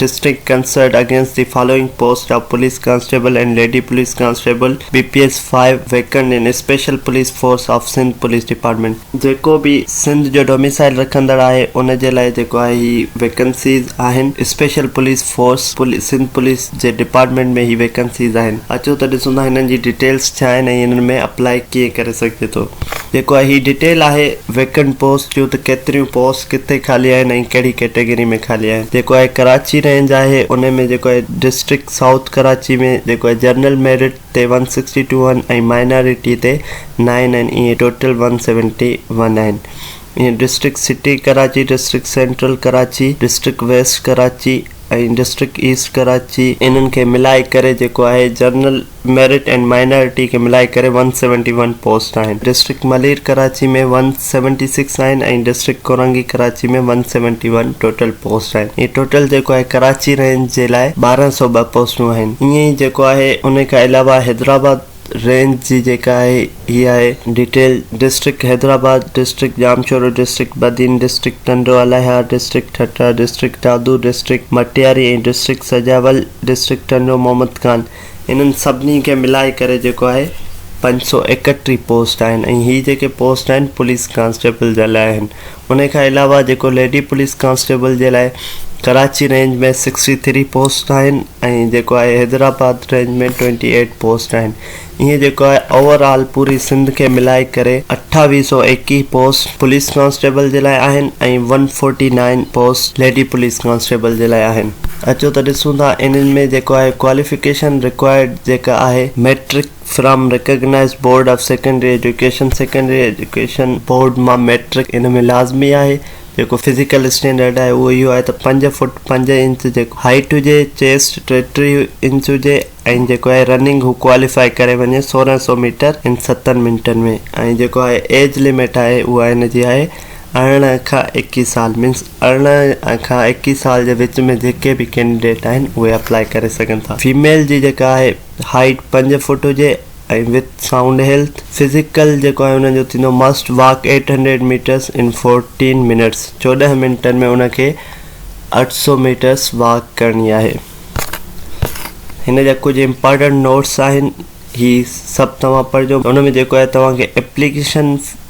District concert against the following post of police constable and lady police constable B P S five vacant in special police force of Sindh police department. جيڪو به سنڌ جو domicile رکندڙ آهي ان جي لاء جيڪو آهي هي ويڪنسيز آهن special police force Sindh police. جي ڊپارٽمينٽ ۾ هي ويڪنسيز آهن اچو ته ڏسون ٿا هنن جي ڊيٽيلس ڇا آهن ۽ هنن ۾ اپلائي ڪيئن ڪري سگهجي ٿو جيڪو آهي هي ڊيٽيل آهي ويڪنٽ پوسٽ جون ته ڪيتريون پوسٽ ڪٿي خالي آهن ۽ ڪهڙي ڪيٽيگري ۾ خالي آهن جيڪو آهي ڪراچي رينج آهي ان ۾ جيڪو آهي ڊسٽرڪٽ سائوٿ ڪراچي ۾ جيڪو آهي جنرل ميرٽ تي ون سڪسٽي ٽو آهن ۽ مائنارٽي تي نائن آهن ائين ٽوٽل ون سيونٽي ون آهن ائين district city Karachi district central Karachi district west Karachi ۽ district east Karachi انهن کي ملائي ڪري جيڪو آهي جنرل ميرٽ ۽ مائنارٽي کي ملائي ڪري ون سيونٽي ون پوسٽ آهن district Malir Karachi ۾ one seventy six آهن ۽ district Korangi Karachi ۾ one seventy one total post آهن ۽ ٽوٽل جيڪو آهي ڪراچي رينج جي لاء ٻارهن سؤ ٻه پوسٽون آهن ائين ئي جيڪو آهي انهي کان علاوه حيدرآباد رينج جي جيڪا آهي هي آهي detail district Hyderabad district Jamshoro district Badin district Tando Allahyar district Thatta district Dadu district Matiari ۽ district Sujawal district Tando Muhammad Khan انهن سڀني کي ملائي ڪري جيڪو آهي پنج سؤ ايڪٽيهه پوسٽ آهن ۽ هي جيڪي پوسٽ آهن پوليس ڪانسٽيبل جي لاء آهن انهي کان علاوه جيڪو ليڊي پوليس ڪانسٽيبل جي لاء Karachi range ۾ sixty three post آهن ۽ جيڪو آهي Hyderabad range ۾ twenty eight post آهن ائين جيڪو آهي اوور آل پوري سنڌ کي ملائي ڪري اٺاويهه سؤ ايڪيهه پوسٽ پوليس ڪانسٽيبل جي لاء آهن ۽ one forty nine post lady police constable جي لاء آهن اچو ته ڏسون ٿا انهن ۾ جيڪو آهي ڪواليفڪيشن رڪوائرڊ جيڪا آهي matric from recognised board of secondary education secondary education board مان مئٽرڪ ان ۾ لازمي آهي جيڪو فزيڪل اسٽينڊرڊ آهي اهو اهو آهي ته پنج فوٽ پنج انچ جيڪو هائيٽ هجي چيسٽ ٽي ٽي انچ هجي ۽ جيڪو آهي رننگ هو ڪواليفائي ڪري وڃي سورهن سؤ ميٽر ان ستن منٽن ۾ ۽ جيڪو آهي ايج لمٽ آهي اها ان جي آهي ارڙهن کان ايڪيهه سال مينس ارڙهن کان ايڪيهه سال جي وچ ۾ جيڪي به ڪينڊيڊيٽ آهن اهي اپلائي ڪري سگهن ٿا فيميل جي جيڪا آهي هائيٽ پنج فوٽ هجي ۽ وٿ سائونڊ هيلٿ فزيڪل جيڪو آهي انهن جو ٿيندو must walk eight hundred metres in fourteen minutes چوڏهن منٽن ۾ ان کي اٺ سؤ ميٽرس واڪ ڪرڻي آهي هن جا ڪجهه امپارٽنٽ نوٽس آهن هي سڀ توهان پڙهجو ان ۾ جيڪو آهي توهان کي اپليڪيشن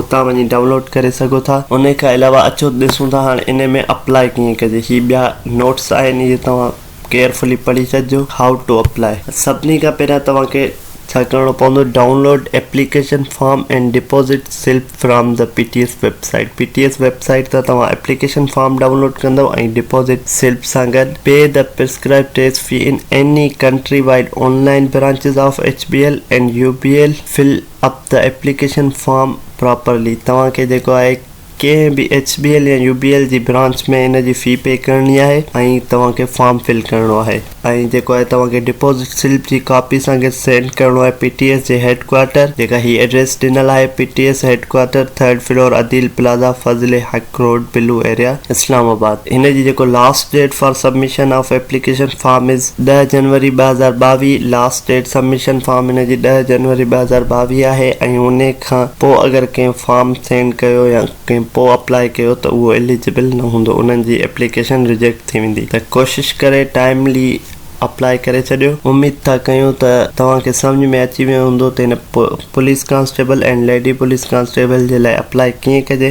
اتان وڃي ڊائونلوڊ ڪري سگهو ٿا انهي کان علاوه اچو ته ڏسون ٿا هاڻي انهي ۾ اپلائي ڪيئن ڪجي هي ٻيا نوٽس آهن اهي توهان ڪيئرفلي پڙهي ڇڏجو How to apply سڀني کان پهريان توهان کي ڇا ڪرڻو پوندو download application form and deposit slip from the P T S website P T S website تان توهان ايپليڪيشن فارم ڊائونلوڊ ڪندو ۽ ڊپوزٽ سلپ سان گڏ pay the prescribed test fee in any countrywide online branches of H B L and U B L fill up the application form properly توهان کي جيڪو آهي ڪنهن به H B L يا U B L جي branch ۾ ان جي في پي ڪرڻي آهي ۽ توهان کي فارم فل ڪرڻو آهي ۽ جيڪو آهي توهان کي ڊپوزٽ سلپ جي ڪاپي اسان کي سينڊ ڪرڻو آهي پي ٽي ايس جي هيڊ ڪوارٽر جيڪا هي ايڊريس ڏنل آهي P T S headquarter third floor Adeel plaza Fazal Haq ڪروڊ بلو ايريا اسلام آباد هن جي جيڪو last date for submission of application form is ڏهه جنوري ٻه هزار ٻاويهه لاسٽ ڊيٽ سبمشن فارم هن جي ڏهه جنوري ٻه هزار ٻاويهه آهي ۽ ان کان پوء اگر ڪنهن فارم سينڊ ڪيو يا ڪنهن پوء اپلائي ڪيو ته اهو اليجبل نه هوندو انهن جي ايپليڪيشن ريجيڪٽ ٿي ويندي ته ڪوشش ڪري ٽائملي اپلائي ڪري ڇڏيو اميد ٿا ڪيون ته توهان کي سمجهه ۾ اچي ويو هوندو ته هن police constable and lady police constable جي لاء اپلائي ڪيئن ڪجي.